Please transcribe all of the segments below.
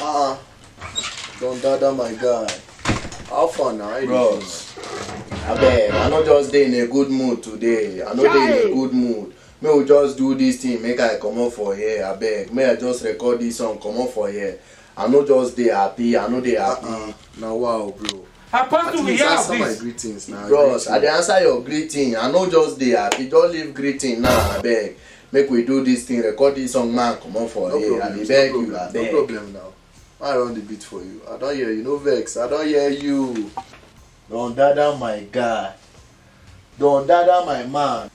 Uh-uh. Don't dada my guy. How far now? How you dey Bros. abeg i no just dey in a good mood today i no dey in a good mood make we just do this thing make i comot for here abeg make i just record this song comot for here i no just dey happy i no dey happy. feel? Na wow bro. Apart from we have this. my greetings now. Bros, I dey answer your greeting. I no just dey happy. Just leave greeting now, nah, abeg. Make we do this thing, record this song, man. Come on for no here. I dey beg no you, abeg. No problem now. I run the beat for you. I don hear you. No vex. I don hear you. Don dada my guy. Don dada my man.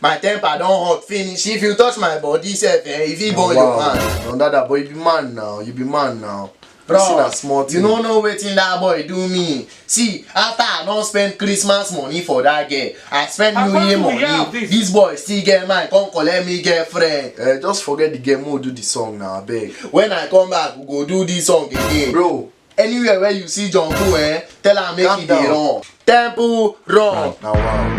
My temper don hot finish. If you touch my body sef, eh, e fit burn your hand. Don dada boy, you be man now, you be man now. Bro, See na small you thing. no know wetin that boy do me. See, after I don spend Christmas money for that girl, I spend How New come Year we hear of money. this? This boy still get mine, come collect me girlfriend. Eh, just forget the game, we'll do the song now, abeg. When I come back, we go do this song again. Bro, Anywhere where you see John Cool, eh, tell am make Calm he dey down. run. Temple run. Now wow.